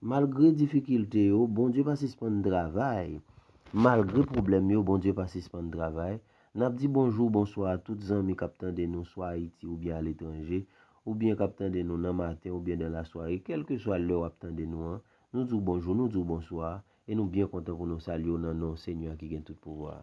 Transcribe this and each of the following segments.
Malgre difikilte yo, Bondye pa sispann travay. Malgre pwoblèm yo, Bondye pa sispann travay. N ap di bonjou, bonswa a tout zanmi k ap tande nou swa Ayiti oubyen aletranje, oubyen k ap tande nou nan maten oubyen nan lasware, kèlkeswa lè w ap tande nou an, nou di w bonjou, nou di w bonswa, e nou byen kontan pou nou salye w nan non Senyè a ki gen tout pouvwa a.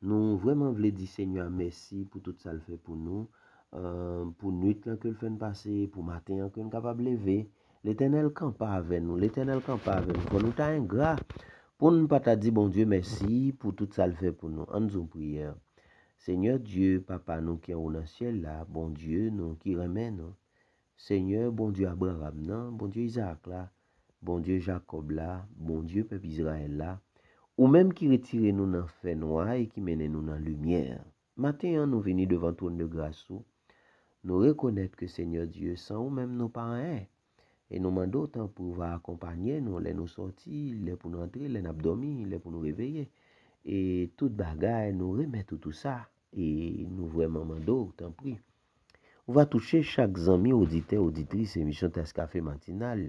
Nou vrèman vle di Senyè a mèsi pou tout sa l fè pou nou, pou nuit lan ke l fè n pase, pou maten an ke n kapab leve. Letènèl kanpe avè nou, Letènèl kanpe avè nou. Fò nou ta engra pou n pa ta di Bondye mèsi pou tout sa l fè pou nou. Ann di yon priyè, Senyè Dye, Papa nou ki anwo nan syèl la, Bondye nou ki renmen nou, Senyè, Bondye Abraram nan, Bondye Izarak la, Bondye Jakòb la, Bondye pèp Izrayèl la, ou menm ki retire nou nan fènwa e ki mennen nou nan limyè, maten an nou vini devan twòndegras ou, nou rekonèt ke Senyè Dye, san ou menm nou pa anyen, e nou mande w tanpri w va akonpanye nou lè nou sòti, lè pou n antre, lè n ap dòmi, lè pou nou reveye, e tout bagay nou remèt ou tou sa, e nou vrèman mande w tanpri. Ou va touche chak zanmi oditè oditris emisyon tas kafe matinal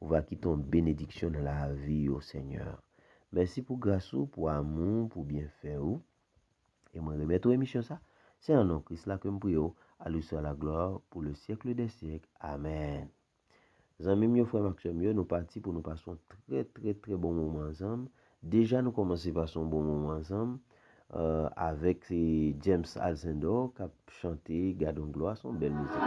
ou va kite yon benediksyon nan lavi yo senyè mèsi pou gras ou pou amou ou pou byenfè ou e mwen remèt ou emisyon sa se nan non kris la kem priye ou a lui swa la glwa pou le syèkle dè syèk amèn. Zanmim yo frèm ak sèm yo nou pati pou nou pase yon trè trè trè bon moman ansanm deja nou kòmanse pase yon bon moman ansanm avèk James Alcindor kap chante gadon glwa son bèl mizik.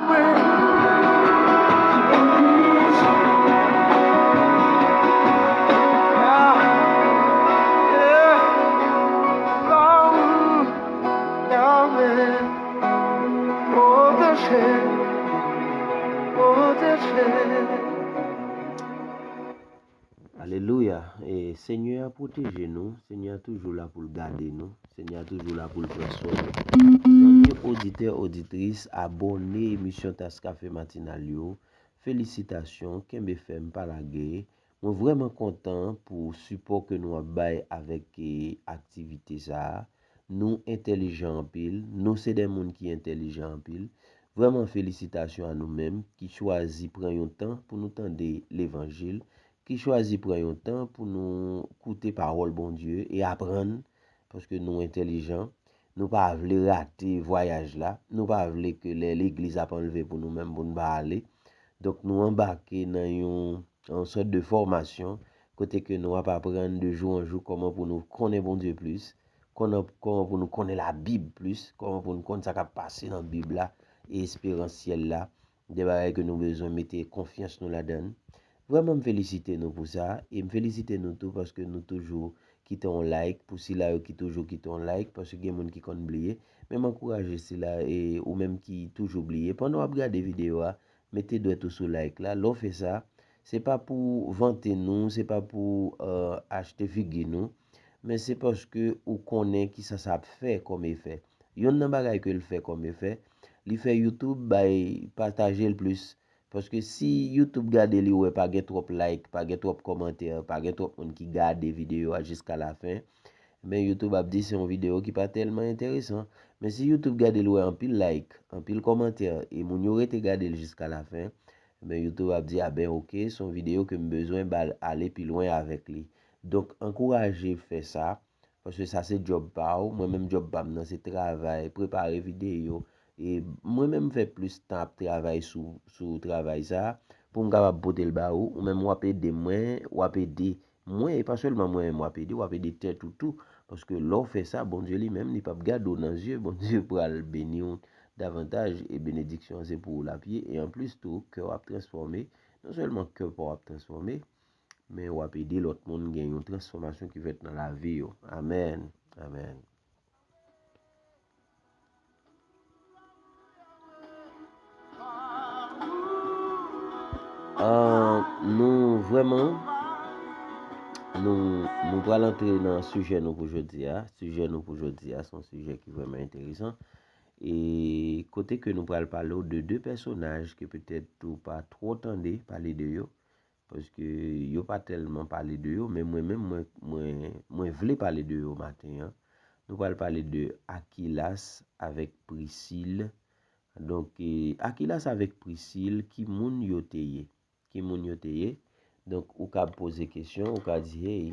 Alelouya e senyè a pwoteje nou senyè a toujou la poul gade nou senyè a toujou la poul pran swen nou zanmi oditè oditris abòne emisyon taskafe matinal yo felisitasyon kenbe fèm pa lage Mwen vrèman kontan pou sipò ke nou ap bay avèk aktivite sa a. Nou entèlijan anpil, nou se de moun ki entèlijan anpil. Vrèman felisitasyon a nou menm ki chwazi pran yon tan pou nou tande levanjil, ki chwazi pran yon tan pou nou koute pawòl Bondye e aprann paske nou entèlijan, nou pa vle rate vwayaj la, nou pa vle ke lè legliz ap anlve pou nou menm pou nou pa ale, donk nou anbake nan yon sòt de fòmasyon kote ke nou ap aprann de jou an jou kòman pou nou konnen Bondye plis, kòman pou nou konnen labib plis, kòman pou nou konn sa kap pase nan bib la e esperans syèl la 2 bagay ke nou bezwen mete konfyans nou ladann. Vrèman m felisite nou pou sa e m felisite nou tou paske nou toujou kite yon like pou sila yo ki toujou kite yon like paske gen moun ki konn bliye men m ankouraje sila e ou menm ki toujou bliye pandan w ap gade videyo a mete dwèt ou sou like la lè w fè sa se pa pou vante nou se pa pou achte figi nou. Men se paske ou konnen kisa sa ap fè kòm efè. Yonn nan bagay ke l fè kòm efè, li fè YouTube bay pataje l plis. Paske si YouTube gade li wè pa gen twòp like, pa gen twòp kòmantè, pa gen twòp moun ki gade videyo a jiska lafen, men YouTube ap di se yon videyo ki pa tèlman enteresan. Men si YouTube gade l wè anpil like, anpil kòmantè e moun yo rete gade l jiska lafen, men YouTube ap di a ben ok, se yon videyo ke m bezwen ba l ale pi lwen avèk li. Donk ankouraje fè sa, paske sa se djòb pa ou, mwen menm djòb pa m nan se travay, prepare videyo, e mwen menm m fè plis tan ap travay sou travay sa, pou m kapab pote l ba ou, ou menm w ap ede mwen, w ap ede mwen, e pa sèlman mwen menm w ap ede, w ap ede tèt ou tou, paske lè w fè sa, Bondye li menm li p ap gade w nan zye, Bondye pral beni w davantaj, e benediksyon an se pou ou l ap ye, e anplis tou kè w ap transfòme, non sèlman kè pa w ap transfòme. men wap ede lòt moun gen yon transfòmasyon ki fèt nan lavi yo amen amen. Nou vreman Nou pral antre nan sijè nou pou jodi a Sijè nou pou jodi a Son sijè ki vreman enteresan E kote ke nou pral pale ou de 2 pèsonaj Ke petèt ou pa tro tande pale de yo Paske yo pa tèlman pale de yo, men mwen menm mwen vle pale de yo maten an. Nou pral pale de Akilas avèk Prisil. Donk, Akilas avèk Prisil, ki moun yo te ye? Ki moun yo te ye? Donk, ou kab poze kesyon, ou ka di, hey,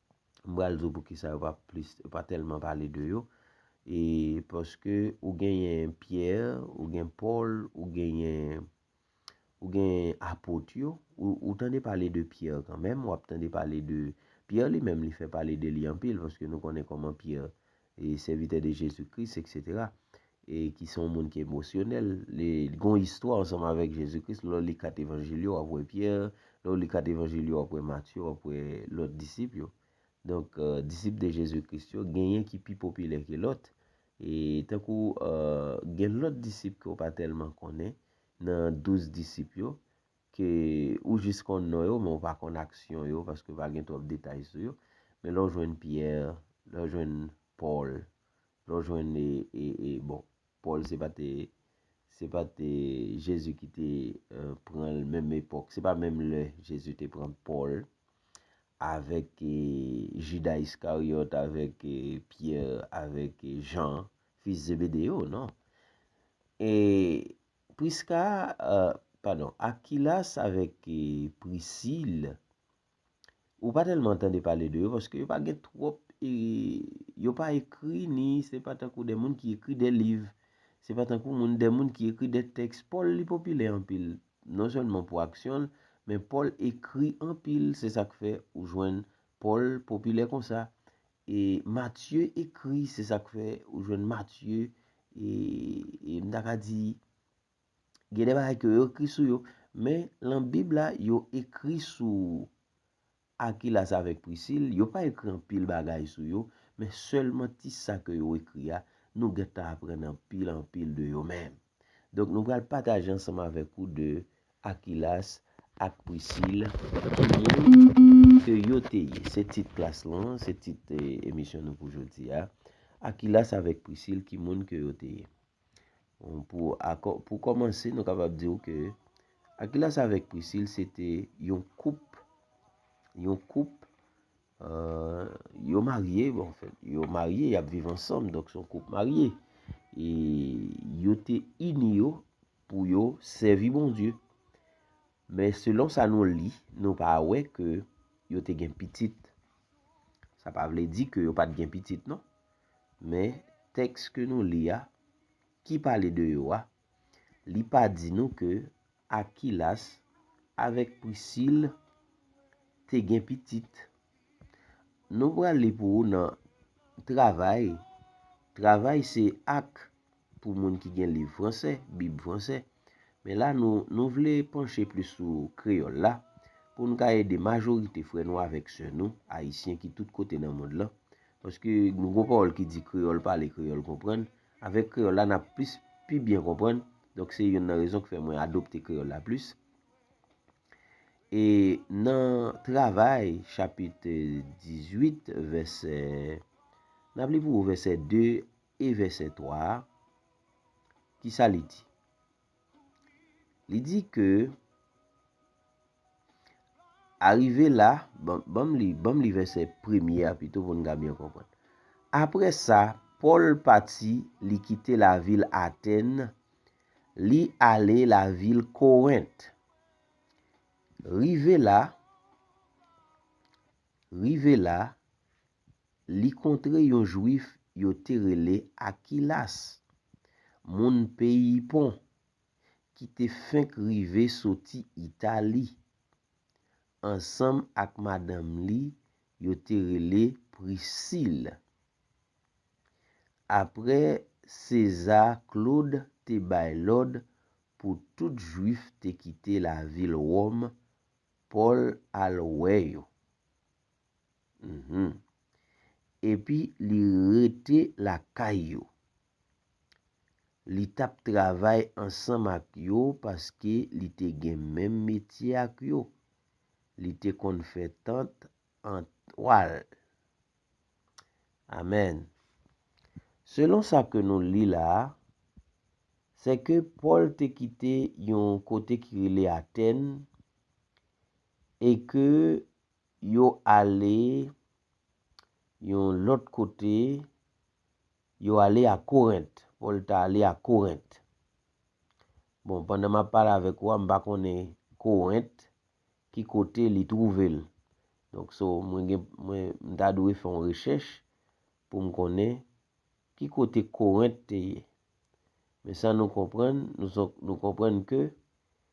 m pral di w poukisa yo pa plis, yo pa tèlman pale de yo, e paske ou genyen Pyè, ou gen Pòl, ou genyen, ou genyen Apot yo, ou tande pale de Pyè kanmenm, w ap tande pale de, Pyè li menm li fè pale de li anpil, paske nou konnen kòman Pyè e sèvitè de Jezi Kris eksetera e ki se yon moun ki emosyonèl li gen yon istwa ansanm avèk Jezi Kris lè w li 4 evanjil yo w ap wè Pyè lè w li 4 evanjil yo w ap wè Matye w ap wè lòt disip yo donk disip de Jezi Kris yo genyen ki pi popilè ke lòt e tankou gen lòt disip ke w pa tèlman konnen nan 12 disip yo ke ou jis konn non yo men ou pa konn aksyon yo paske pa gen twòp detay sou yo, men lè w jwenn Pierre, lè w jwenn Paul, lè w jwenn e bon Paul se pa te se pa te Jésus ki te pran l menm epòk, se pa menm lè Jésus te pran Paul avèk Judas Iscariot, avèk Pierre, avèk Jean, fils Zébédée yo, non. E Priska, padon, Akilas avèk Prisil, ou pa tèlman tande pale de yo paske yo pa gen twòp, yo pa ekri ni se pa tankou de moun ki ekri de liv, se pa tankou moun de moun ki ekri de tèks. Pòl li popilè anpil, non sèlman pou aksyon l, men Pòl ekri anpil, se sa k fè ou jwenn Pòl popilè konsa. E Matye ekri, se sa k fè ou jwenn Matye, e m ta ka di, gen de bagay ke yo ekri sou yo, men lan Bib la, yo ekri sou Akilas avèk Prisil, yo pa ekri anpil bagay sou yo, men sèlman ti sa ke yo ekri a, nou gen tan aprann anpil anpil de yo menm. Donk nou pral pataje ansanm avèk ou de Akilas ak Prisil ki moun ke yo te ye. Se tit klas lan, se tit emisyon nou pou jodi a. Akilas avèk Prisil ki moun ke yo te ye. Pou kòmanse nou kapab di ou ke Akilas avèk Prisil se te yon koup, yon koup. Yo marye, bon, yo marye, yap viv ansanm, donk son koup marye. E yo te ini yo pou yo sèvi Bondye. Men selon sa nou li, nou pa wè ke yo te gen pitit. Sa pa vle di ke yo pat gen pitit non. Men tèks ke nou li a, ki pale de yo a, Li pa di nou ke Akilas avèk Prisil te gen pitit. Nou pral li pou ou nan Travay. Travay se ak pou moun ki gen liv franse, bib franse. Men la nou vle panche plis sou kreyòl la pou nou ka ede majorite frè nou avèk sè nou ayisyen ki tout kote nan mond lan. Paske nou gen yon pawòl ki di kreyòl pale, kreyòl konprann. Avèk kreyòl la, n ap plis pi byen konprann. Donk se youn nan rezon ki fè mwen adopte kreyòl la plis. E nan Travay chapit 18 vèsè, n ap li pou ou vèsè 2 e vèsè 3 a, ki sa li di? Li di ke arive la, banm li, banm li vèsè premye a pito pou nou ka byen konprann. Apre sa, Pòl pati, li kite lavil Atèn, li ale lavil Korent. Rive la, rive la, Li kontre yon jwif yo te rele Akilas, moun peyi Pon, ki te fenk rive soti Itali, ansanm ak madanm li yo te rele Prisil. Apre Seza Klod te bay lòd pou tout jwif te kite lavil Wòm, Pòl al wè yo. Uhmm. Epi li rete lakay yo. Li tap travay ansanm ak yo paske li te gen menm metye ak yo. Li te konn fè tant an twal. Amen. Selon sa ke nou li la a, se ke Pòl te kite yon kote ki rele Atèn e ke Yo ale yon lòt kote, yo ale a Korent. Pòl ta ale a Korent. Bon, pandan m ap pale avèk ou a, m pa konnen Korent ki kote li twouve l. Donk, so, mwen gen, mwen, m ta dwe fè yon rechèch pou m konnen ki kote Korent te ye. Men sa nou konprann, nou, nou konprann ke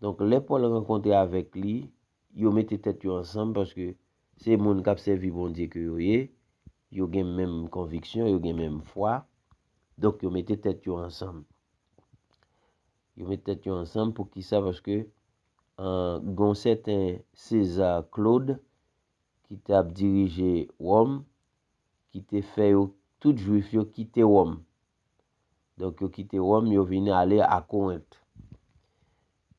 Donk, lè Pòl rankontre avèk li, yo mete tèt yo ansanm paske se moun k ap sèvi Bondye ke yo ye, yo gen menm konviksyon, yo gen menm fwa. Donk, yo mete tèt yo ansanm. Yo mete tèt yo ansanm poukisa? Paske gen yon sèten Seza Klod ki t ap dirije Wòm ki te fè yo, tout juif yo, kite Wòm. Donk, yo kite Wòm, yo vin ale a Korent.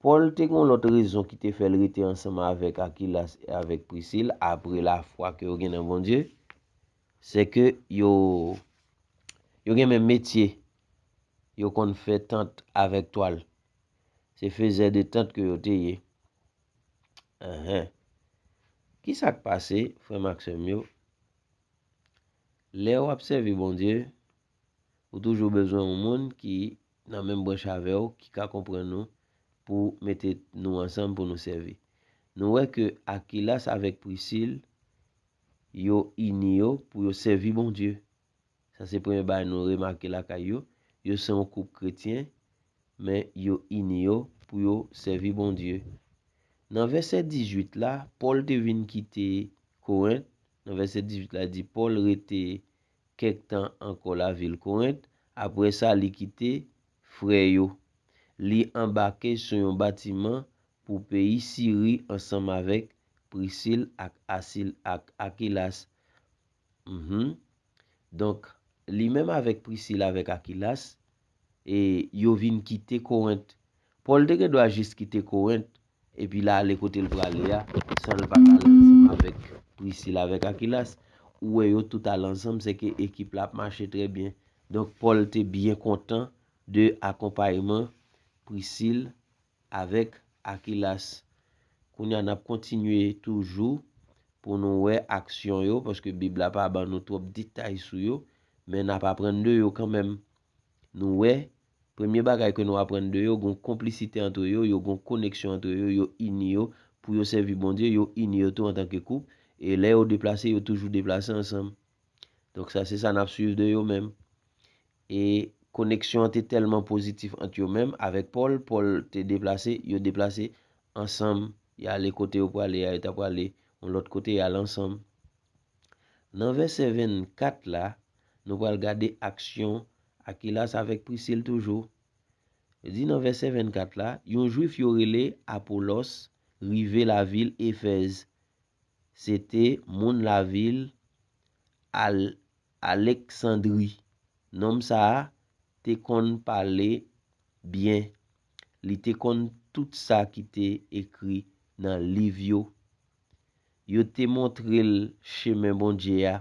Pòl te gen yon lòt rezon ki te fè l rete ansanm avèk Akilas e avèk Prisil apre lafwa ke yo gen nan Bondye, sèke yo gen menm metye, yo konn fè tant avèk twal. Se fezè de tant ke yo te ye. Enhen. Ki sa k pase, frè m ak sè m yo, lè w ap sèvi Bondye? Ou toujou bezwen yon moun ki nan menm branch avè w ki ka konprann ou pou mete nou ansanm pou nou sèvi. Nou wè ke Akilas avèk Prisil yo ini yo pou yo sèvi Bondye. Sa se premye bagay nou remake lakay yo. Yo se yon koup kretyen, men yo ini yo pou yo sèvi Bondye. Nan vèsè 18 la, Pòl te vin kite Korent. Nan vèsè 18 la, li di Pòl rete kèk tan ankò lavil Korent, apre sa li kite frè yo. Li anbake sou yon batiman pou peyi Siri ansanm avèk Prisil ak Asil ak Akilas. Mph. Donk, li menm avèk Prisil avèk Akilas, e yo vin kite Korent. Pòl te gendwa jis kite Korent Epi l ale kote l prale a, san l pa t ale ansanm avèk Prisil avèk Akilas. Ou wè yo tout ale ansanm, sèke ekip la ap mache trè byen. Donk, Pòl te byen kontan de akonpayeman Prisil avèk Akilas. Kounye a, n ap kontinye toujou pou nou wè aksyon yo, paske Bib la pa ban nou twòp detay sou yo, men n ap aprann de yo kanmenm. Nou wè Premye bagay ke nou aprann de yo, gon konplisite antre yo, yo gon koneksyon antre yo, yo ini yo pou yo sèvi Bondye, yo ini yo tou antan ke koup, e lè yo deplase, yo toujou deplase ansanm. Donk sa se sa nap swiv de yo menm. E koneksyon an te tèlman pozitif ant yo menm avèk Pòl, Pòl te deplase, yo deplase ansanm, y ale kote yo prale a, yo ta prale yon lòt kote, y ale ansanm. Nan vèsè 24 la, nou pral gade aksyon Akilas avèk Prisil toujou. Yo di nan vèsè 24 la, yon Jwif yo rele Apolòs rive lavil Efèz. Se te moun lavil Al, Aleksandri. Nonm sa a te konn pale byen. Li te konn tout sa ki te ekri nan Liv yo. Yo te montre l chemen Bondye a,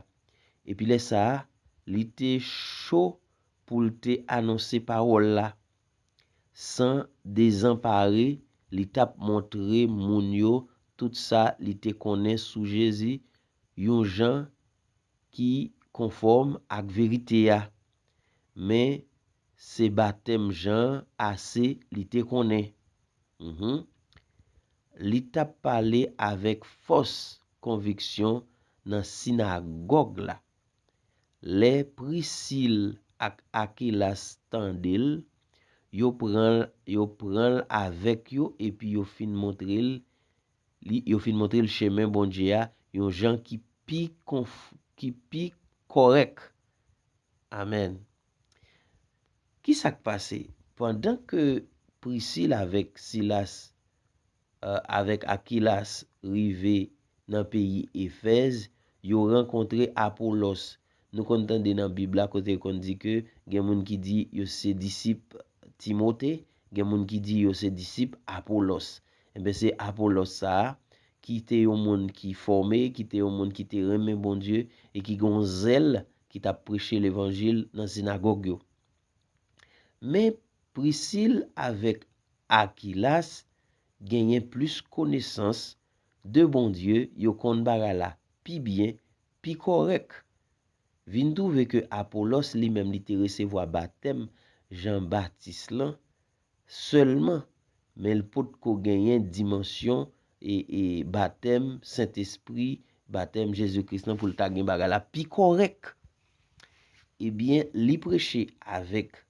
epi lè sa a, li te cho pou l te anonse pawòl la. San dezanpare, li t ap montre moun yo tout sa li te konnen sou Jezi yon jan ki konfòm ak verite a. Men, se batèm Jan ase li te konnen. Hum, hum. Li t ap pale avèk fòs konviksyon nan sinagòg la. Lè Prisil ak Akilas tande l, yo pran l yo pran l avèk yo epi yo fin montre l li yo fin montre l chemen Bondye a yon jan ki pi konf ki pi kòrèk. Amèn. Ki sa k pase? Pandan ke Prisil avèk Silas avèk Akilas rive nan peyi Efèz, yo rankontre Apolòs. Nou konn tande nan Bib la kote l konn di ke gen moun ki di yo se disip Timote, Gen moun ki di yo se disip Apolòs. Enben, se Apolòs sa a, ki te yon moun ki fòme, ki te yon moun ki te renmen Bondye e ki gen yon zèl, ki t ap preche levanjil nan sinagòg yo. Men, Prisil avèk Akilas genyen plis konesans de Bondye, yo konn bagay la pi byen, pi kòrèk. vin twouve ke Apolòs li menm li te resevwa batèm Jan Batis lan sèlman, men l pot ko genyen dimansyon batèm Sentespri, batèm Jezi Kris lan pou l ta gen bagay la pi kòrèk. Ebyen, li preche avèk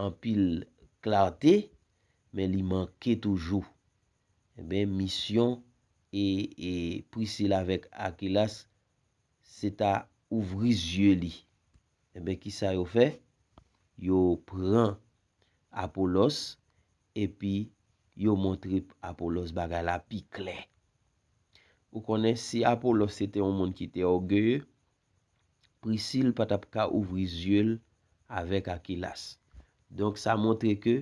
anpil klarte, men li manke toujou. Enben, misyon Prisil avèk Akilas se ta ouvri zye li. Enben, ki sa yo fè? Yo pran Apolòs epi yo montre Apolòs bagay la pi klè. Ou konnen, si Apolòs se te yon moun ki te ògeye, Prisil pa t ap ka ouvri zye l avèk Akilas. Donk, sa montre ke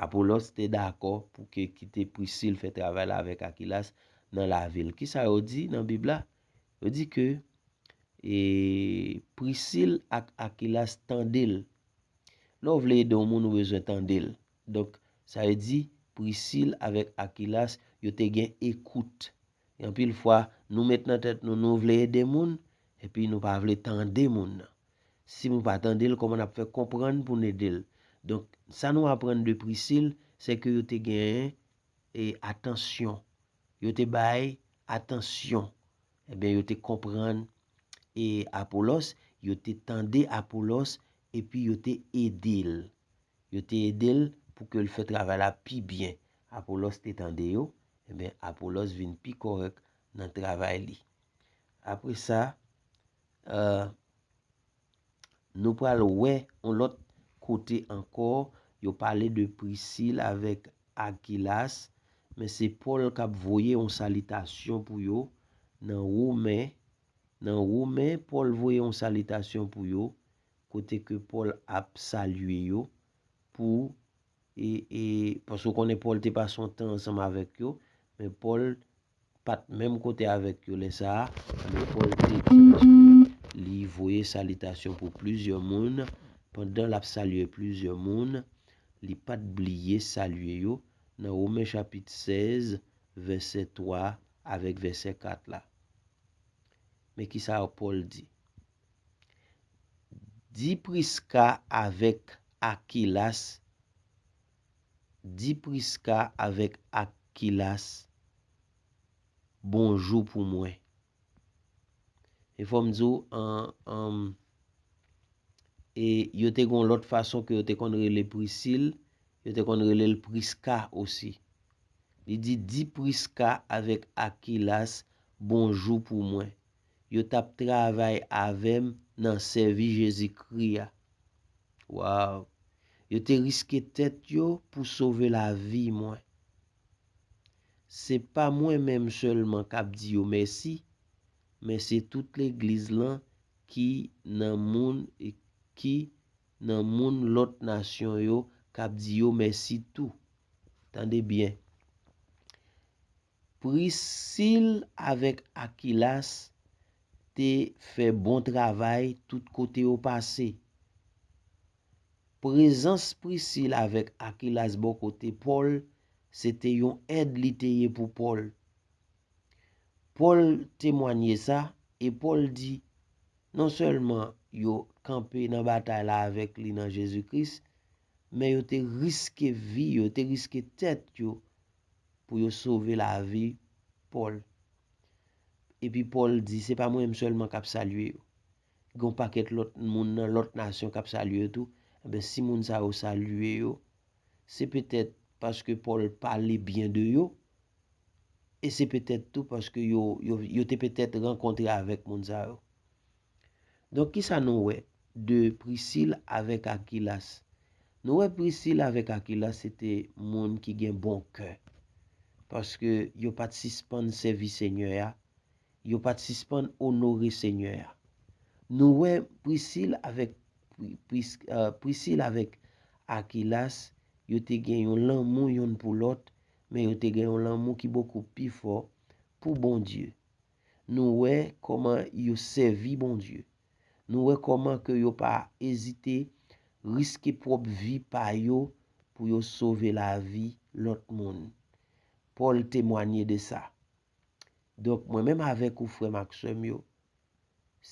Apolòs te dakò pou ke kite Prisil fè travay la avèk Akilas nan lavi l. Ki sa yo di nan Bib la? Yo di ke e Prisil ak Akilas tande l. Lè w vle ede yon moun ou bezwen tande l. Donk, sa vle di Prisil avèk Akilas yo te gen ekout. E anpil fwa, nou met nan tèt nou nou vle ede moun, epi nou pa vle tande moun nan. Si nou pa tande l, kòman n ap fè konprann pou n ede l? Donk, sa nou aprann de Prisil, se ke yo te gen e atansyon. Yo te bay atansyon. Ebyen yo te konprann e Apolòs, yo te tande Apolòs epi yo te ede l. Yo te ede l pou ke l fè travay la pi byen. Apolòs te tande yo, ebyen Apolòs vin pi kòrèk nan travay li. Apre sa, Nou pral wè yon lòt kote ankò yo pale de Prisil avèk Akilas, men se Pòl k ap voye yon salitasyon pou yo nan Women Nan Women, Pòl voye yon salitasyon pou yo, kote ke Pòl ap salye yo pou e, e, paske w konnen Pòl te pase yon tan ansanm avèk yo, men Pòl pa t menm kote avèk yo lè sa a, men Pòl te di Lespri li voye salitasyon pou plizyè moun. Pandan l ap salye plizyè moun, li pa t bliye salye yo nan Women chapit 16, vèsè 3 avèk vèsè 4 la. Men ki sa Pòl di, Di Priska avèk Akilas Di Prisca avèk Akilas bonjou pou mwen. E fò m di w an an e yo te gon lòt fason ke yo te konn rele Prisil, yo te konn rele l Prisca osi. Li di, Di Prisca avèk Akilas bonjou pou mwen. yo tap travay avèm nan sèvi Jezi Kri a. Waww! Yo te riske tèt yo pou sove lavi mwen. Se pa mwen menm sèlman kap di yo mèsi, men se tout legliz lan ki nan moun ki nan moun lòt nasyon yo kap di yo mèsi tou. Tande byen. Prisil avèk Akilas te fè bon travay tout kote yo pase. Prezans Prisil avèk Akilas bò kote Pòl se te yon èd li te ye pou Pòl. Pòl temwanye sa, e Pòl di, Nonsèlman yo kanpe nan batay la avèk li nan Jezi Kris, men yo te riske vi yo, yo te riske tèt yo pou yo sove lavi Pòl. Epi Pòl di, se pa mwen menm sèlman k ap salye yo. Gen yon pakèt lòt moun nan lòt nasyon k ap salye yo tou. Enben, si moun sa yo salye yo, se petèt paske Pòl pale byen de yo, e se petèt tou paske yo te petèt rankontre avèk moun sa yo. Donk kisa nou wè de Prisil avèk Akilas? Nou wè Prisil avèk Akilas se te moun ki gen bon kè. Paske yo pa t sispann sèvi Senyè a, yo pa t sispann onore Senyè a. Nou wè Prisil avèk Prisil avèk Akilas yo te gen yon lanmou yonn pou lòt, men yo te gen yon lanmou ki bokou pi fò pou Bondye. Nou wè kòman yo sèvi Bondye. Nou wè kòman ke yo pa ezite riske pwòp vi pa yo pou yo sove lavi lòt moun. Pòl temwanye de sa. Donk, mwen menm avèk ou frè m ak sè m yo,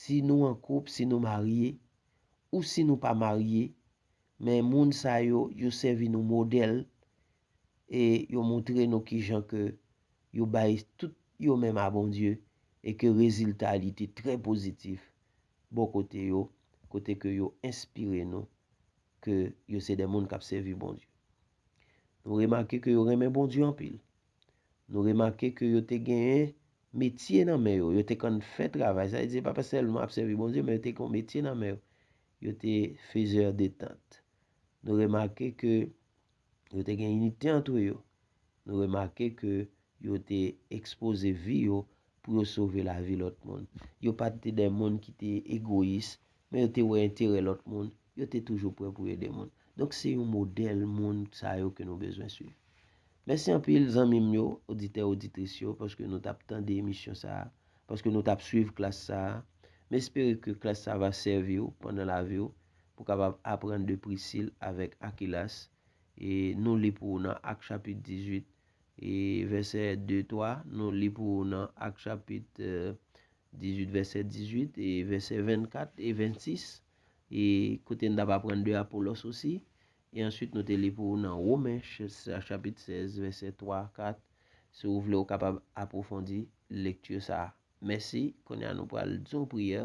si nou an koup, si nou marye, ou si nou pa marye, men moun sa yo, yo sèvi nou modèl e yo moutre nou kijan ke yo bay tout yo menm a Bondye e ke rezilta li te trè pozitif bò kote yo, kote ke yo enspire nou ke yo se de moun kap sèvi Bondye. Nou remake ke yo renmen Bondye anpil. Nou remake ke yo te genyen metye nan men yo, yo te konn fè travay, sa vle di yo pa te sèlman ap sèvi Bondye men yo te kon metye nan men yo, yo te fezè de tant. Nou remake ke Yo te gen inite antre yo. Nou remake ke yo te ekspoze vi yo pou yo sove lavi lòt moun. Yo pa te de moun ki te egoyis, men yo te wè enterè lòt moun, yo te toujou pre pou ede moun. Donk se yon modèl moun sa yo ke nou bezwen swiv. Mèsi anpil zanmi m yo, oditè oditris yo, paske nou tap tande emisyon sa, paske nou tap swiv klas sa. M espere ke klas sa va sèvi w pandan lavi w. pou kapab aprann de Prisil avèk Akilas, e nou li pou ou nan Ak chapit 18, e vèsè 2, 3, nou li pou ou nan Ak chapit 18 vèsè 18, e vèsè 24 e 26, e kote n t ap aprann de Apolòs osi, e answit nou te li pou ou nan Women chapit 16 vèsè 3, 4, si ou vle ou kapab apwofondi lekti sa a. Mèsi, kounye a nou pral di yon priyè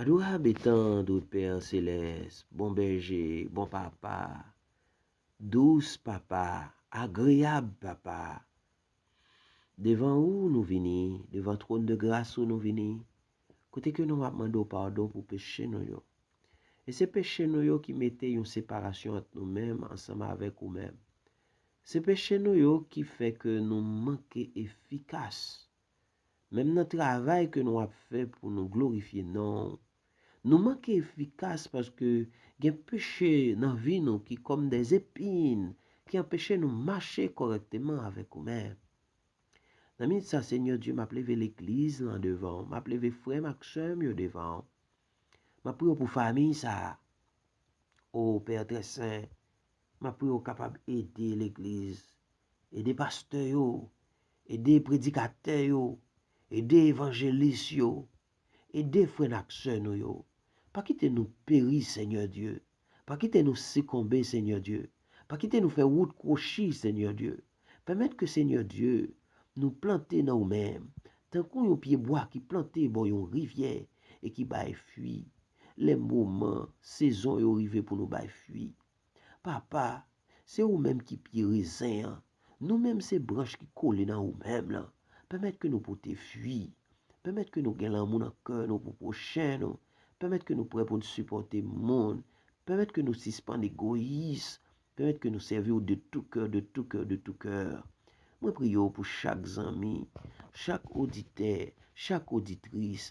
Adorabe tandre pè selès bon bèje bon papa dous papa agreyab papa devan ou nou vini devan twòn de gras ou nou vini kote ke nou ap mande w padon pou peche nou yo e se peche nou yo ki mete yon separasyon ant nou menm ansanm avèk ou menm se peche nou yo ki fè ke nou manke efikas Menm nan travay ke nou ap fè pou nou glorifye non ou, nou manke efikas paske gen peche nan vi nou ki kòm de zepin ki anpeche nou mache kòrèkteman avèk ou menm. Nan minit sa, Senyè Dye, m ap leve legliz lan devan ou, m ap leve frè m ak sè m yo devan ou. M ap priye w pou famiy sa a. O, Pè trè sen, m ap priye w kapab ede legliz, ede pastè yo, Ede predikatè yo, ede evanjelis yo, ede frè n ak sè nou yo. Pa kite nou peri, Senyè Dye. Pa kite nou sikonbe, Senyè Dye. Pa kite nou fè wout kwochi, Senyè Dye. Pèmèt ke, Senyè Dye, nou plante nan ou menm, tankou yon pyebwa ki plante bò yon rivyè e ki bay fwi, lè moman, sezon yo rive pou nou bay fwi. Papa, se ou menm ki pye rezen an, nou menm se branch ki kole nan ou menm lan. Pèmèt ke nou pote fwi. Pèmèt ke nou gen lanmou nan kè nou pou pwochen nou. Pèmèt ke nou prè pou n sipòte moun. Pèmèt ke nou sispann egoyis. Pèmèt ke nou sèvi ou de tou kè, de tou kè, de tou kè. Mwen priye ou pou chak zanmi, chak oditè, chak oditris,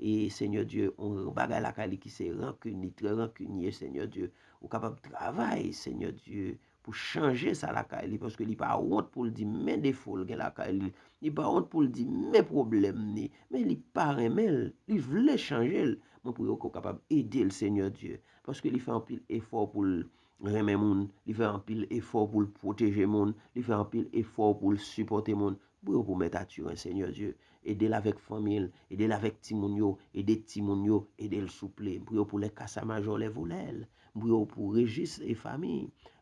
E Seigneur Dieu yon bagay lakay li ki se rancune li trè rancunier Seigneur Dieu ou kapab travay Seigneur Dieu pou chanje sa lakay li paske li pa wont poul di men defo l gen lakay li li pa wont poul di men pwoblèm li men li pa renmen l li vle chanje l mwen priye w ke w kapab ede l Seigneur Dieu paske li fè anpil efò pou l renmen moun, li fè anpil efò pou l pwoteje moun, li fè anpil efò pou l sipòte moun. Bri yo pou Mèt Athurin Seigneur Dieu. Ede l avèk fanmi l, ede l avèk timoun yo, ede timoun yo, ede l souple. M priye w pou lè kasa majò, lè volè l. M priye w pou Régis e fanmi.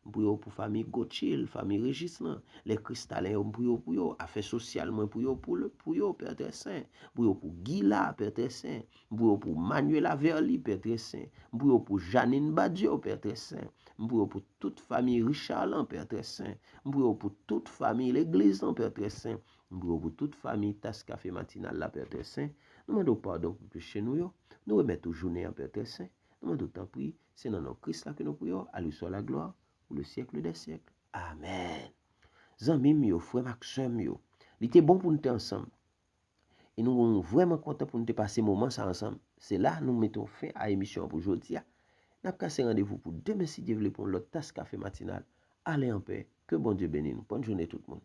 M priye w pou fanmi Gauthier, fanmi Régis lan. Lè Christalin yo m priye w pou yo. Afè sosyal mwen priye w pou yo Père Très Saint. M priye w pou Guy la Père Très Saint. M priye w pou Manuela Verly, Pè Trè Sen. M priye w pou Jeanine Badio, Pè Trè Sen. M priye w pou tout famiy Richard lan, Pè Trè Sen. M priye w pou tout famiy legliz lan, Pè Trè Sen. M priye w pou tout famiy Tas Kafe Matinal la, Pè Trè Sen. Nou mande w padon pou peche nou yo. Nou remèt ou jounen an, Pè Trè Sen. Nou mande w tanpri, se nan non Kris la ke nou priye w, a lui swa la glwa pou le syèkle dè syèkle. Amèn. Zanmi m yo, frè m ak sè m yo, li te bon pou nou te ansanm. E nou vrèman kontan pou nou te pase moman sa ansanm. Se la nou mete yon fen a emisyon an pou jodi a. N ap kase randevou pou demen si Dye vle pou yon lòt tas kafe matinal. Ale an pè. Ke Bondye beni nou. Bòn joune tout moun.